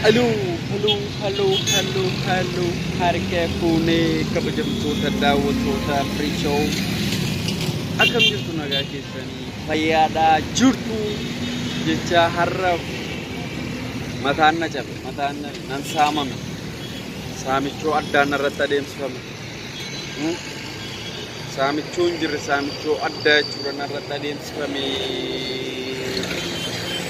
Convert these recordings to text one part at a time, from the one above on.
Haloo haloo haloo haloo haloo harka fuunee kabajamtoota daawwattoota Firiishoo akkam jirtu nagaa keessanii fayyaadhaa jirtu jecha har'a mataan na cabe mataan na nan saamame saamichoo addaan narratti adeemsifame Hmm? saamichoo hin jirre saamichoo addaa jechuudha narratti adeemsifame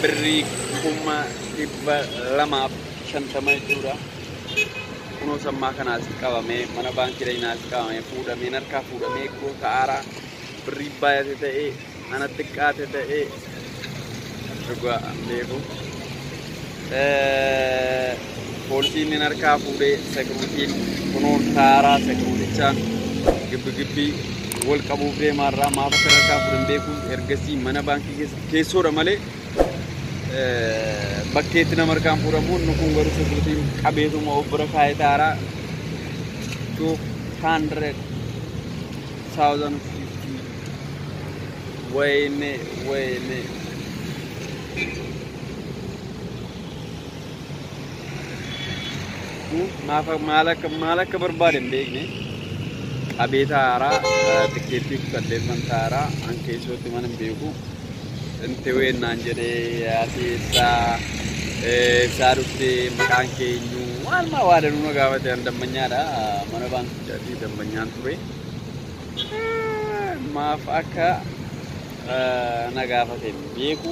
birrii kuma dhibba lamaaf shantama jechuudha. Kunoo sammaa kana asitti qabamee mana baankii dhaynaa asitti qabamee fuudhamee narkaa fuudhamee kunoo ta'aaraa birrii baay'ate ta'ee ana xiqqaate ta'ee dhugaa an beeku. Eh, Poolisiin inni narkaa fuudhee sekiruutiin kunoo ta'aaraa sekiruutichaan gibbi gibbii wal qabuuf deemaarraa maaf akka narkaa fuudhan beekuun ergasii mana baankii keessa keessoodha malee bakkeetti nama harkaan fuudhamu inni kun garuu sirriitiin qabeetuma of bira kaa'ee taara 200,050 wayne wayne maal akka maal akka barbaade hin beekne qabeeta haaraa tikkeettii kutalleeffan taaraa an keessootti mana hin beeku Inti ween naan jedhee asii ibsaa eh, ibsaa dhufte maqaan keenyu waan maa waa danuu na gaafate an dammanyaadha mana baankichaati dammanyaan ture Eh, maaf akka eh, na gaafate hin beeku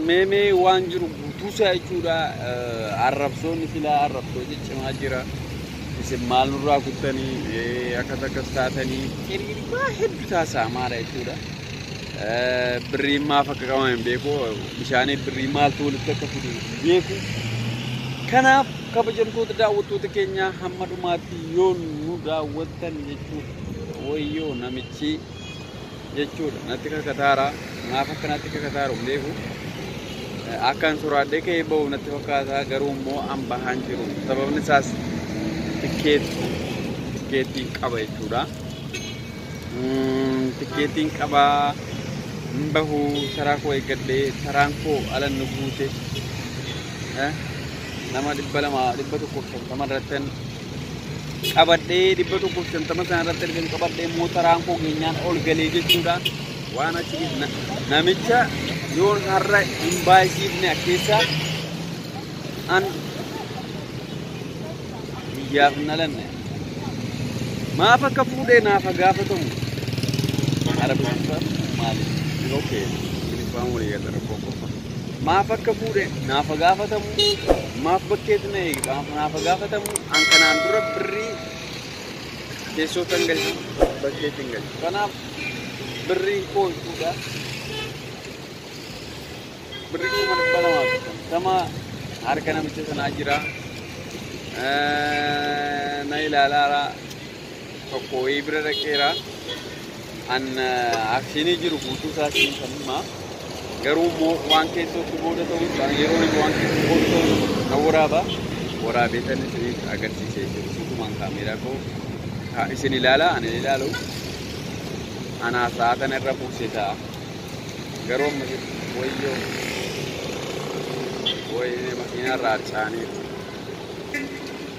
Meemee waan jiru guutuusaa jechuudha. Arrabsoonni silaa arrabsoo ciccimaa jira. Isin maal nurraa kuttanii akkas akkas taatanii hiriiri waa heddu taasaa maara jechuudha. Birriin maaf akka qabamu hin beeku. Bishaanii birrii maaltu walitti akka fidu hin beeku. Kanaaf kabajamtoota daawwattoota keenyaa hamma dhumaatti yoo nu daawwattan jechuudha. Wayyoo namichi jechuudha natti kakataara maaf akka natti kakataaru hin beeku akkan soraadhee ka'ee ba'u natti fakkaata garuu immoo an bahaan jiru sababni isaas tikkeetti tikkeettiin qaba jechuudha tikkeettiin qaba hin bahu taraa koo eeggadhee taraan koo alan nu guute nama dhibba lama dhibba tokko shantama irratti qabadhee dhibba tokkoof shantama sana irratti ergan qabadhee mootaraan koo keenyaan ol galee jechuudha. Waan achi namicha yoon har'a hin baay'isiifne keessa an biyyaaf hin dhalanne. Maaf akka fuudhee naaf haa gaafatamu. Arabsiisa maali? Yoo kee, ilfaan walii gala rakkoo qofa. Maaf akka fuudhe naaf haa gaafatamu, maaf bakkeetu na eege maaf naaf haa gaafatamu, an kanaan dura birrii keessootti hin galchu, bakkeetti hin galchu. Kanaaf birriin koo jechuudha. Birrii kuma dhibba lamaa fi shantama harka namicha sanaa jira. Eh, Na ilaalaara. tokko wayii bira dhaqeera. An akshinii jiru guutuu isaa siin kan himaa. Garuu immoo waan keessootti booda ta'uu isaa yeroo inni waan keessootti booda ta'uu na waraaba. Waraabeetan isiniif agarsiisee jiru. Guutumaan kaameeraa koo kaa- isin ilaala ani hin ilaalu. Anaa sa'aatan irra buusee ta'a. Garuu amma jiru wayyoo wayii makiinaa irraa harcaaniiru.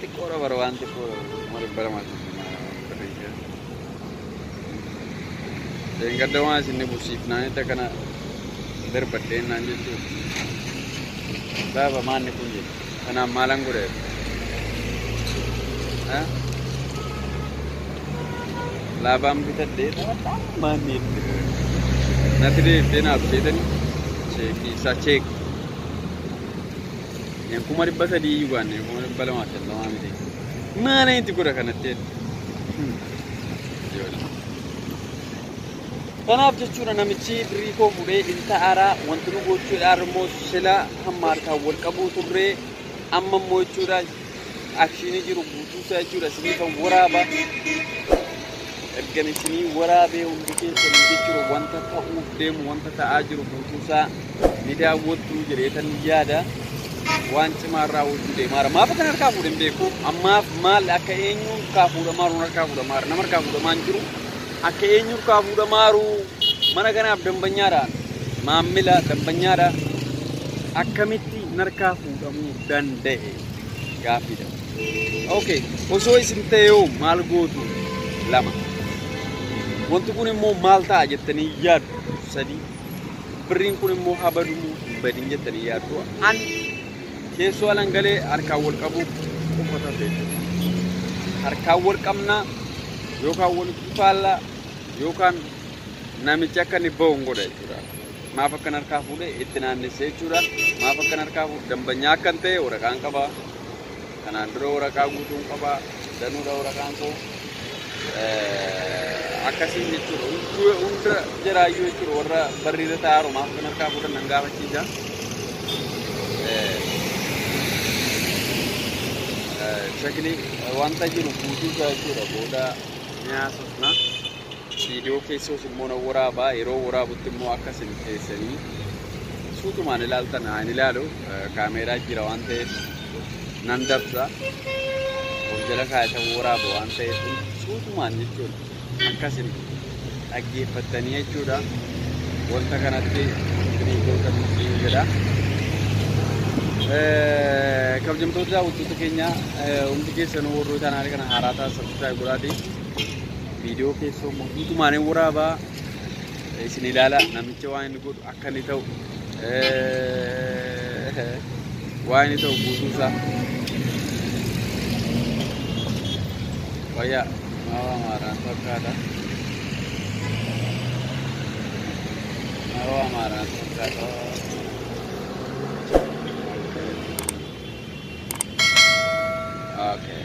xiqqoodha bara waan xiqqoo maaliif bara maal barreessaa deengadda waan isin ni busiifnaanitti akkana darbadheen naan jechuun gaafa maanni kun jedhe kanaan maalan godhe laabaan bitadhee taphataa maanni itti natti deebitee naaf jeetanii cheekii isaa cheekii Kan kuma dhibba sadii iyyuu baanne kuma dhibba lamaa fi shantamaa miti. Maala itti godha kanatti jedhe. Ijoollee. Kanaaf jechuudha namichi birrii koo fuudhee ilta aaraa wanti nu gochuudhaan immoo sila hamma harkaan wal qabuu turree amma immoo jechuudha akshiinii jiru guutuusaa jechuudha isiniifan waraaba ergan isinii waraabee hundi keessanii jechuudha wanta ta'uuf deemu wanta ta'aa jiru guutuusaa ni daawwattu jedheetan yaada waan cimaa irraa hojjuu deemaara maaf akkan harkaa fuudhan beeku ammaaf maal akka eenyu harkaa fuudhamaa jiru harkaa fuudhamaa jiru nama harkaa fuudhamaa hin jiru akka eenyu harkaa fuudhamaa jiru mana kanaaf dambanyaadha maammila dambanyaadha akkamitti narkaa fuudhamuu danda'e gaaffiidha. Okay, osoo isin ta'eeoo maal gootu? Lama. Wanti kun immoo maal ta'a jettanii yaaddu? Sadii. Birriin kun immoo haa badu moo hin badin jettanii yaaddu? An keessoo alan galee harkaan wal qabuu qofa taate. Harkaan wal qabnaa yookaan walitti faallaa yookaan namichi akka inni bahu hin godha jechuudha. maaf akkan harkaa fuudhe itti naannessee jechuudha. Maaf akkan harkaa fuudhe dambanyaa akkan ta'e waraqaan qaba. Kanaan dura waraqaa guutuun qaba. Danuudha waraqaan koo. Akkasiin jechuudha. Hunduu- Hunda jiraayyuu jechuudha warra barriirra taa'aaru maaf akkan harkaa fuudhan nan gaafachiisa. Shakni wanta jiru guutuu isaa jechuudha booda ni haasofna. Viidiyoo keessoos immoo nan waraabaa yeroo waraabutti immoo akka isin keessanii suutumaan ilaaltan haa hin ilaalu kaameeraa jira waan ta'eef nan dabsa of jala kaayatan waraabu waan ta'eef suutumaan jechuun akka isin dhaggeeffattanii jechuudha wanta kanatti isinii gootan isin jedha. Kabajamtoota daawwattoota keenya hundi keessanuu warroota kana haaraa taasisan subscribe godhaatii. Viidiyoo keessoo immoo guutumaan hin waraabaa isin ilaala namicha waan inni godhu akka inni ta'u waan inni ta'u guutuu isaa wayyaa maawaa maaraan fakkaata maawaa maaraan fakkaata okay.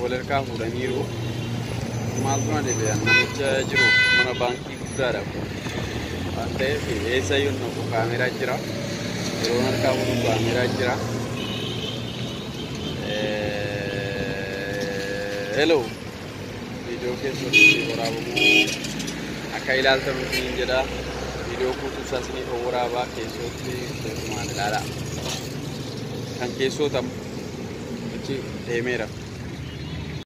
wal harkaa fuudhaniiru. Maal buna deebi'an namicha jiru mana baankii guddaadha kun. Waan ta'eef eessa yoo naqu kaameeraa jira. Yeroo harkaa fuudhu kaameeraa jira. Hello. viidiyoo keessatti waraabamuu akka ilaaltan isiniin jedha. Viidiyoo guutuu isaa isiniif waraabaa keessootti keessumaan ilaalaa. Kan keessootamu achi deemeera.